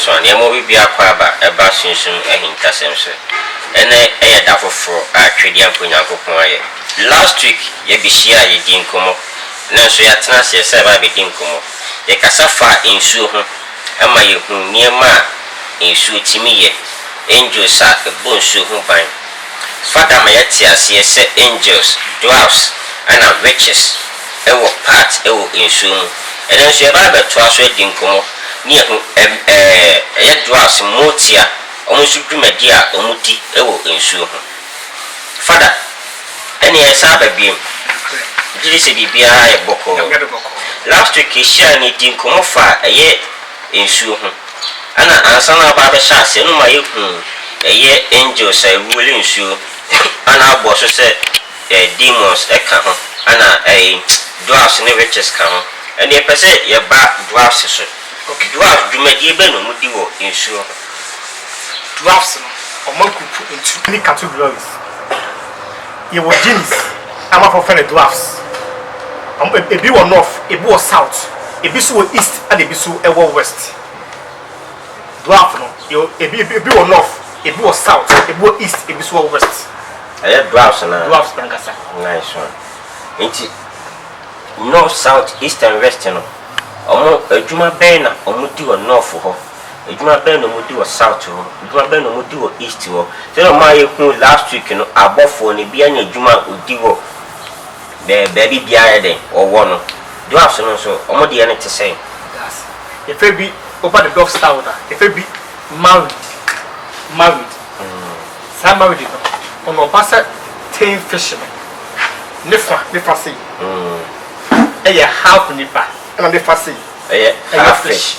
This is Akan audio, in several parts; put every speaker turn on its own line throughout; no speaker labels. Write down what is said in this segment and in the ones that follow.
so a nneɛma bi bi akɔ aba ɛba sunsum ahintasɛm so ɛnɛ ɛyɛ da foforɔ a twedeɛmfo nyankopɔn ayɛ last week yɛbɛhyia a yɛdi nkɔmmɔ nanso yɛatena aseɛ sɛ ɛbɛ abɛdi nkɔmmɔ yɛkasa fa nsuo ho Ɛma yehu nneɛma a nsuo tumi yɛ, angels a ɛbɔ nsuo ho ban. Fada ma yɛte aseɛ sɛ angels, dwarfs ɛna witches wɔ part wɔ nsuo mu. Ɛnɛ nso yɛbɛba abɛtoa so adi nkɔmmɔ ne yɛahu ɛm ɛɛ ɛyɛ dwarfs, mmootia, wɔn nso dwumadie a wɔdi wɔ nsuo ho. Fada, ɛneɛ yɛsan aba biom, gyedi sɛ biribiara ayɛ bɔkɔɔ. Last week yɛhyiae no yɛdii nkɔmmɔ faa ɛyɛ nsuo ho, ɛna ansa na aba abɛhyɛ aseɛ no ma yɛhuu ɛyɛ angels a ɛruoli nsuo ɛna abɔ so sɛ demons ɛka ho ɛna ɛyi dwarfs ne witches ka ho, ɛneɛ yɛpɛ sɛ yɛba dwarfs so, dwarfs dwumadie bɛn na wɔdi wɔ nsuo ho? Drafts no, ɔma group ntu. Any categories. Yɛwɔ gyms a amanfoɔ frɛ no drafts. Ebi wɔ North, ebi wɔ South, ebi nso wɔ East ɛna ebi nso wɔ West. Draft no, yɛwɔ ebi ebi wɔ North, ebi wɔ South, ebi wɔ East, ebi nso wɔ West. Ɛyɛ drafts no ara. Drafts no ankasa. Nice one. Nti North, South, East and West no, wɔn adwuma bɛn na wɔdi wɔ North hɔ? Edwuma bɛn na ɔmo di wɔ south hɔ? Edwuma bɛn na ɔmo di wɔ east hɔ? Sɛdeɛ ɔmo a yɛ huu last week no abɔfoɔ no ebiaa nya edwuma a ɔdi wɔ bɛ baabi biaa yɛ dɛn ɔwɔ no. Dwarfs no nso ɔmo deɛ no te sɛn? Daase. Efe bi woba the dwarfs town a efe bi married married saa married no ɔno ɔba sɛ tein fisherman ne fa ne fa sei ɛyɛ half nipa ɛna ne fa sei ɛyɛ half fish.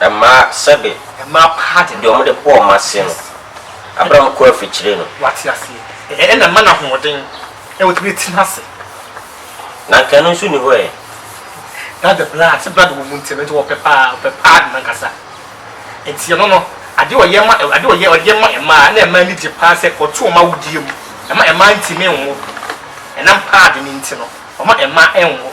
Ɛmaa sɛbe. Ɛmaa paati deɛ wɔde bɔɔ wɔn aseɛ no, aberɛ a wɔkɔɔ afikyire no. Wate aseɛ? Ɛɛ, ɛna ɛma no ahoɔden na watumi atena ase. Na anka ɛno nso nni hɔ ɛ. That's the blood, sɛ blood wɔ mu nti no, nti wɔpɛ paa, wɔpɛ paadi no ankasa. Nti ɛno no, adeɛ a ɔyɛ ma, adeɛ a ɔyɛ, ɔde yɛ ma mmaa, na mmaa ani gye paa sɛ ɔto wɔn awodeɛ mu. Ɛma mmaa ntumi nwo. Ɛnam paadi no nti no, wɔma mmaa nwo.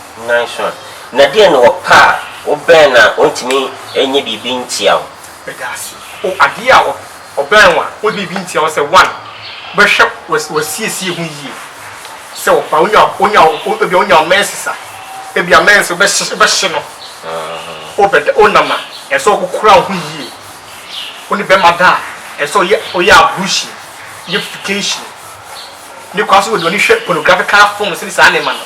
Nnanson. Na deɛn na ɔpɛ a wobɛn no a ɔntumi nyɛ biribi ntia wo? Pedaase. O adeɛ a ɔbɛn wo a ɔde biribi ntia wo sɛ, one, wobɛhwɛ w'asiesie ho yie sɛ ɔba wonya wonya ebia wonya wo menses a, ebia menses wobɛhye wobɛhye no, wobɛda wonam a ɛsɛ sɛ wokora wo ho yie, wo ne bɛrima da a ɛsɛ sɛ woyɛ woyɛ ablution, yɛ fikehyini, ne kora so wode w'ani hwɛ pornographical films ne saa nneɛma no,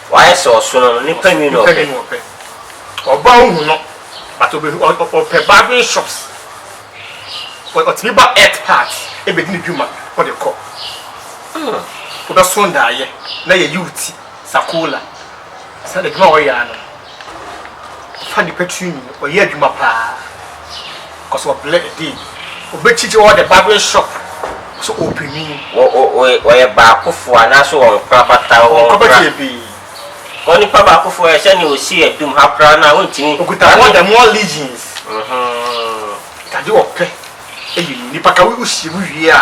Wayɛ sɛ ɔsono no, nipa nwi na ɔpɛ. Ɔba a ohu no but ɔpɛ barbering shops, ɔtumi ba earth part bedi ne dwuma ɔde kɔ. Wobɛso ndaayɛ na yɛyi wo ti, Sakola, sɛ adwuma a ɔyɛ ara no. fa nipa tiri nwi no ɔyɛ adwuma paa cos ɔbrɛ ɛdee ɔbɛkyikyi ɔwɔ the barbering shop so ɔpɛ nwi ɔyɛ baakofoɔ anaasɛ ɔnkora bata ɔnkora bata ɛbee cos nipa baakofoɔ ɛ sɛnea ɔsi adum ha koraa no a wontimi ɔkuta more than more legions ade ɔpɛ ɛyɛ nwi nipa ka wohyia mu wie a.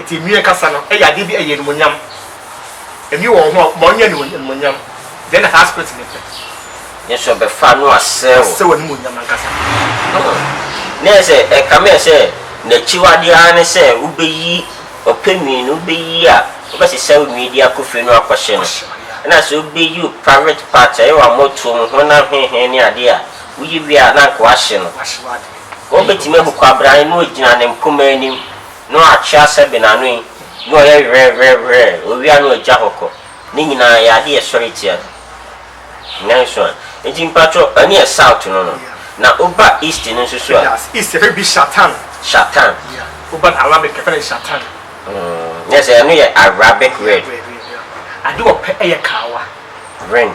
Enti nnue ankasa no yɛ adeɛ bi a ɛyɛ animuonyam. Nnue wɔ wo ho a ma ɔnyɛ animuonyam. Deɛ na saa spirit no pɛ. Nanso ɛbɛfa no asɛe wo. Asɛe w'animuonyam ankasa. Na ɛyɛ sɛ ɛkame ayɛ sɛ n'akyiwadeɛ ara ne sɛ wobɛyi ɔpɛ nwi no, wobɛyi a wobɛsesa wo nwi de akɔ fie no akɔhye no. Ɛna sɛ wobɛyi wo private part, ɛyɛ w'ammɔtoɔ mu, honam hehe ne adeɛ a, woyi wie a na anka woahye no. Wobetumi ahu kwabrane no a ogyina ne mpomma anim no atwea sɛ benanoe ne ɔyɛ werɛwerɛwerɛɛ, owia ne ogya hɔ kɔ. Ne nyinaa yɛ ade a ɛsɔre tia no. Nanso ɛ? Enti mpatrɔ, ɛne yɛ South no no. Na woba East no nso so a? Yes, East yɛfrɛ bi Shatan. Shatan. Yeah, woba Arabic yɛfrɛ no Shatan. Mm, yes, ɛno yɛ Arabic word. Arabic word, yeah. Ade ɔpɛ yɛ kawa. Ring.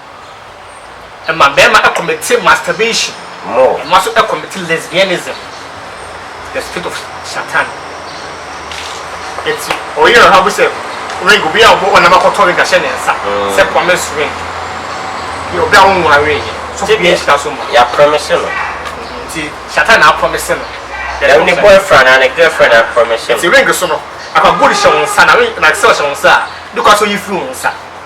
ɛma bɛɛma ɛkɔmete masturbation, ɛma nso ɛkɔmete lesbianism, the spirit of shatan. Eti ɔyere no habu sɛ ring obi a ɔbɔ ɔnam akɔtɔ ring ahyɛ ne nsa sɛ promise ring yɛ obi a wonwaree yɛ so obi yɛ nhyira so ma. Yɛ promise no. Nti shatan na apromise no. Ɛno ne boyfriend anaa ne girlfriend na apromise no. Nti ring so no akwa gold hyɛ wo nsa na ring na silver hyɛ wo nsa a ne kwan so yi firi wo nsa.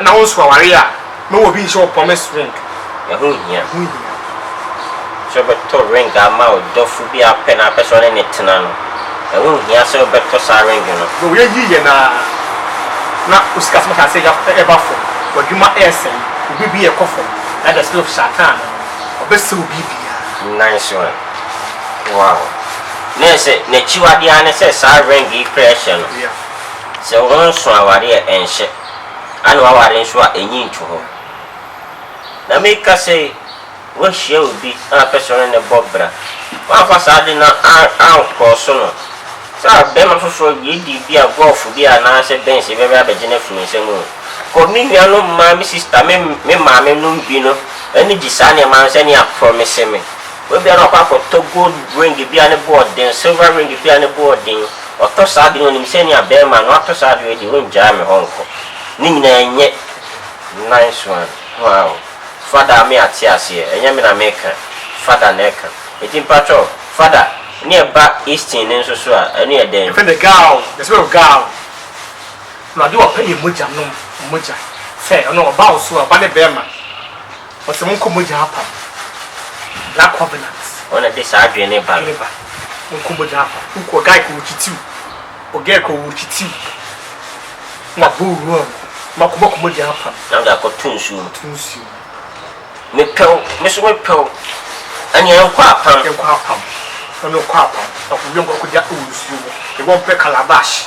na wonso aware a, ma obi nhyɛ wo promise ring. Ɛho nhia. Ɛho nhia. Sɛ wobɛtɔ ring ama wo dɔfo bi a wopɛ na wopɛ sɛ wo ne no tena no, ɛho nhia sɛ wobɛtɔ saa ring no. Hwɛ woyɛ yiye no ara na wo sikasɛm ahyɛ ase reba fam, w'adwuma resɛe, wo biribi rekɔ fam, na the spirit of Satan no, ɔbɛsɛe wo biribiara. Nice one. Wow. Na ɛsɛ, n'akyiwade ara ne sɛ saa ring yi kura hyɛ no. Yeah. Sɛ wonnso aware a ɛnhyɛ, ana woaware nso a enye nto hɔ. Na meka sɛ woahyia obi a wopɛ sɛ wo ne no bɔ bra, woamfa saa ade no ankɔɔ so no, sɛ ɔbarima foforɔ, lady bi a, golf bi a, anaasɛ Benz bi bɛba abɛgye no afi wo nsam oo, kɔ me nuanom mmaa, me sista, me me maame nom bi no ani gye saa nneɛma no sɛdeɛ aprɔmise me. Ebia na wakɔ akɔtɔ gold ring bi a ne bo yɛ den, silver ring bi a ne bo yɛ den. Ɔtɔ saa ade no, ɔnim sɛ nea bɛrima no atɔ saa ade wei deɛ, ɔngyaa me hɔ nkɔ. Ne nyinaa ɛnyɛ nice one. Wow. Fada me ate aseɛ. Ɛnyɛ me na meka. Fada na ɛka. Enti mpakyɛw, Fada, ne ɛba Easton no nso so a, ɛno yɛ dɛn? Yɛfrɛ no Gal, the spirit of Gal. Awurade ɔpɛ yɛn mogya nom, mogya. Sɛ ɔno ɔba wo so a, ɔba ne bɛrima. Ɔsɛ mo nkɔmɔgya apam na covenant. Ɔna ɛde saa adwene ne ba no. Mo nkɔmɔgya apam woku ɔgae kɔ wɔkyitiw ɔgae kɔ wɔkyitiw na bɔ owura mu ma kɔbɔ kɔmɔgya apam. Na ɔde akɔ to nsuo mu. To nsuo mu. Me pɛ wo me so me pɛ wo ɛne ɛnkɔ apam. Ɛnkɔ apam ɛne ɔkɔ apam na kɔ wie nkɔ kɔgya wɔ nsuo mu yɛbɔ mpɛ calabash.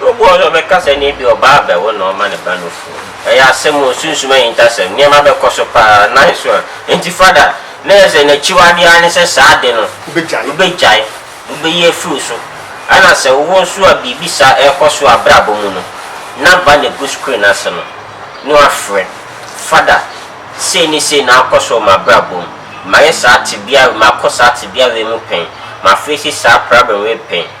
Obu wɔ hɔ sɛ ɔbɛka sɛ ɛnneɛ ebia ɔbaa abɛwo na ɔma ne ba no funu. Ɛyɛ asɛm o, sunsum ahintasɛm, nneɛma bɛkɔ so pa ara, nice one. Enti Father, na ɛyɛ sɛ n'akyiwadeɛ ara ne sɛ saa ade no, Wobɛgyae. wobɛgyae, wobɛyi afiri wo so. Ɛna sɛ wo nso a biribi saa ɛrekɔ so wɔ abrabɔ mu no, na ba no agu screen ase no, na wafrɛ, Father, sei ne sei na akɔ so wɔ m'abrabɔ mu, mayɛ saa tebea wei, makɔ saa tebea wei mu pɛn, ma face saa problem wei pɛn.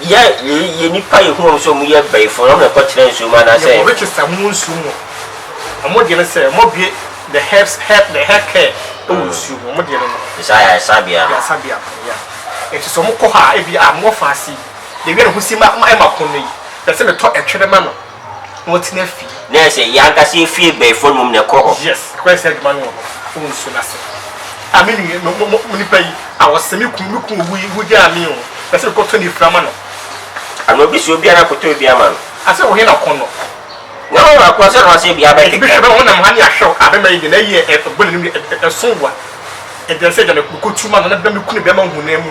Yɛ yei, yɛ nnipa yɛ hu wɔn sɛ wɔn yɛ abaifo, na wɔn na ɛkɔ tena nsuo mu anaasɛ ɛyɛ. Yɛ wɔ Richester mu nsuo mu a, wɔn deɛ no sɛ wɔn abue the herbs, herb, the hair care wɔ nsuo mu, wɔn deɛ no no. Te sɛ ayaresabea no. Ayaresabea no, yeah. Nti sɛ wɔn kɔ hɔ a, ebi a wɔn afa ase yi, deɛ ɛwia ne ho si ma, ma ɛma pono yi, pɛ sɛ me tɔ ɛtwere ma no. wɔtena fie. Na ɛsɛ yɛn ankasa yɛn fie bɛn fam mmom na ɛkɔ hɔ. Yes, ɛkɔyɛ sɛ adwuma no wɔ hɔ a, wonsu no ase. Ah, me nua, me, mo, mo nipa yi, ah, wɔsɛ me kunu, me kunu owu yi, wogyaa me o, ɛsɛ sɛ mekɔtɔ ne firi ama no. Ana obi sɛ obi a na kɔtɔ bi ama no? Asɛ wo he na ɔkɔ no? Na wɔn akɔ sɛ na wɔsɛ bia bɛkeka. Bishop, bɛma wɔnam ha ne ahwɛ o, ah, bɛma yi deɛ, na ɛyɛ, ɛbɔ n'anim, ɛso wa, ɛdɛn sɛ gya me, mekɔtu ma no, na me kunu bɛma hu no amu.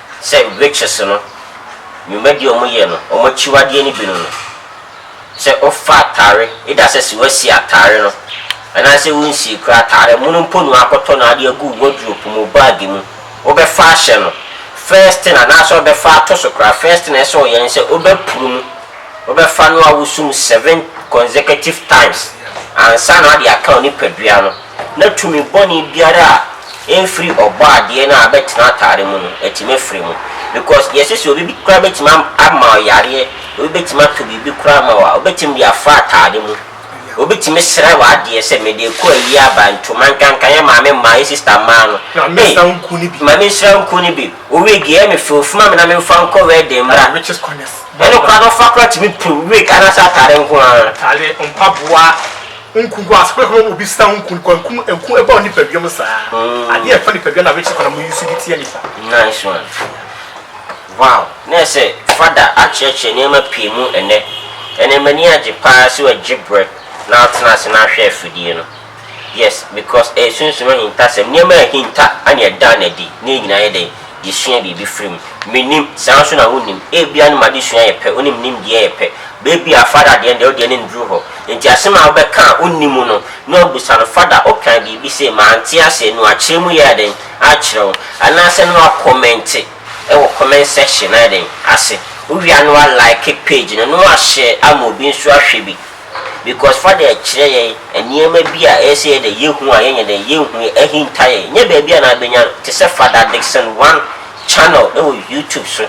Sɛ Witches no nwumadie a wɔyɛ no wɔn akyiwadeɛ no bi no no, sɛ wofa atare either sɛ sɛ woasi atare no anaasɛ wonsii koraa atare mono mpo na woakɔtɔ no ade agu wo wardrope mu, wo bag mu, wobɛfa ahyɛ no first thing anaasɛ wobɛfa ato so koraa first thing a ɛsɛ sɛ woyɛ ne sɛ wobɛporo mu, wobɛfa no awoso mu seven consecutive times ansa na woade aka wo nipadua no. na tumi bɔne biara a ɛmfiri Ɔbɔadeɛ no a abɛtena atare mu no, atumi afiri mu. Because yɛse sɛ obi koraa bɛtumi ama wo yareɛ, obi bɛtumi atɔ biribi koraa ama wo a, ɔbɛtumi de afa atade mu. Obi tumi srɛ w'adeɛ sɛ mede ɛkɔ ayie aba, ntoma nkanka, yɛ maame mmaa, yɛ sister mmaa no, Ei, ma me nsra nku no bi, wo wig ɛyɛ me fɛ, ofuma me na memfa nkɔ wedding mmra. Ɛno koraa no ɔfa koraa tumi pum wig anaasɛ atare nko ara. Nku gu ase kɔkɔbɔ obi sra ho nku nkwa nku nku ɛbɔ nipadua mu saa adeɛ ɛfa nipadua na wɛkyɛ kwan mu yusu de tia nipa. Nice one wow na ɛsɛ fada akyerɛkyerɛ nneɛma pii mu ɛnɛ ɛnɛ m'ani agye paa sɛ wagye brɛ na atena ase na ahwɛ afidie no yes because ɛyɛ sunsum ahintasɛm nneɛma a ɛhinta na ɛda no adi na yɛn nyinaa yɛ dɛn Yɛsua biribi firi mu. Mennim, saa ara nso na wonnim. Ebia ne mu adesua yɛ pɛ, wo ne me nimdeɛ yɛ pɛ. Baabi a Father deɛ no deɛ, wo deɛ no nnuru hɔ. Enti asɛm a wobɛka a wonni mu no, na wabisa no, Father, wokae biribi sei, mante aseɛ, na wakyerɛ mu yɛ dɛn? Akyerɛ wo. Anaasɛ na wakɔmɛnte wɔ comment section no ayɛ dɛn? Ase. Wowie a na wa like page no, na wahyɛ ama obi nso ahwɛ bi. Because fa dɛ kyerɛ yɛn nneɛma bi a ɛyɛ sɛ yɛ dɛ yɛhu a yɛnyɛ dɛn yɛnhu yɛ ahinta yɛn nyɛ baabi a na abɛnya no te sɛ Father Dickson One channel ɛwɔ YouTube so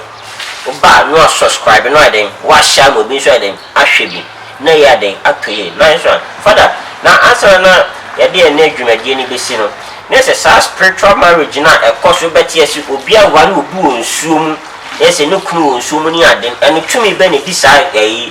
wo ba a na wa subscribe na wayɛ dɛn wahyɛ ama obi nso ayɛ dɛn ahwɛ bi na yɛ ayɛ dɛn atɔ yie nice one Father na ansa na na yɛde ɛnnɛ dwumadie no bɛsi no na yɛ sɛ saa spiritual marriage no a ɛkɔ so bɛte yɛ se obi aware obi wɔ nsuo mu na yɛ sɛ ne kunu wɔ nsuo mu ne ade no ɛno tumi bɛn na ɛdi saa ɛyi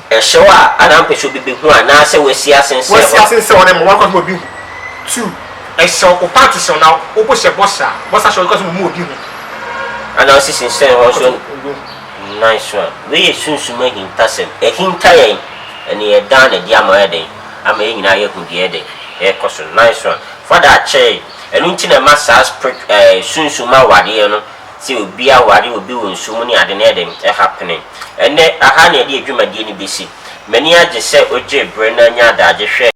Ɛhyew a anampe so bi behu anaasɛ wasi asen sɛ Wasi hɔ. asen sɛ hɔ na ɛma wɔn akwan so ma obi hu. Two, Ɛhyew ko pa te sɛ na obo hyɛ bɔsa, bɔsa hyɛ wɔn kwan so ma ɔmu obi hu. Ana ɔsi sensɛn hɔ so nnan so a. Wei yɛ sunsum ahintasɛm. Ɛhinta yɛn, ɛne yɛn dan na ɛde ama yɛ dɛn? Ama yɛn nyinaa yɛhu deɛ yɛ dɛn? Ɛrekɔ so nnan so a. Fa da kyerɛ yɛn. Ɛno nti na ɛma saa sprit ɛɛ sunsum awadeɛ no. Sɛ obi aware, obi wɔ nsu mu ne ade no yɛ den, ɛha pene. Ɛnnɛ, ɛha na yɛde yɛn dwumadie no bɛsi. M'ani agye sɛ wogyee berɛ na anya adagye hwɛɛ.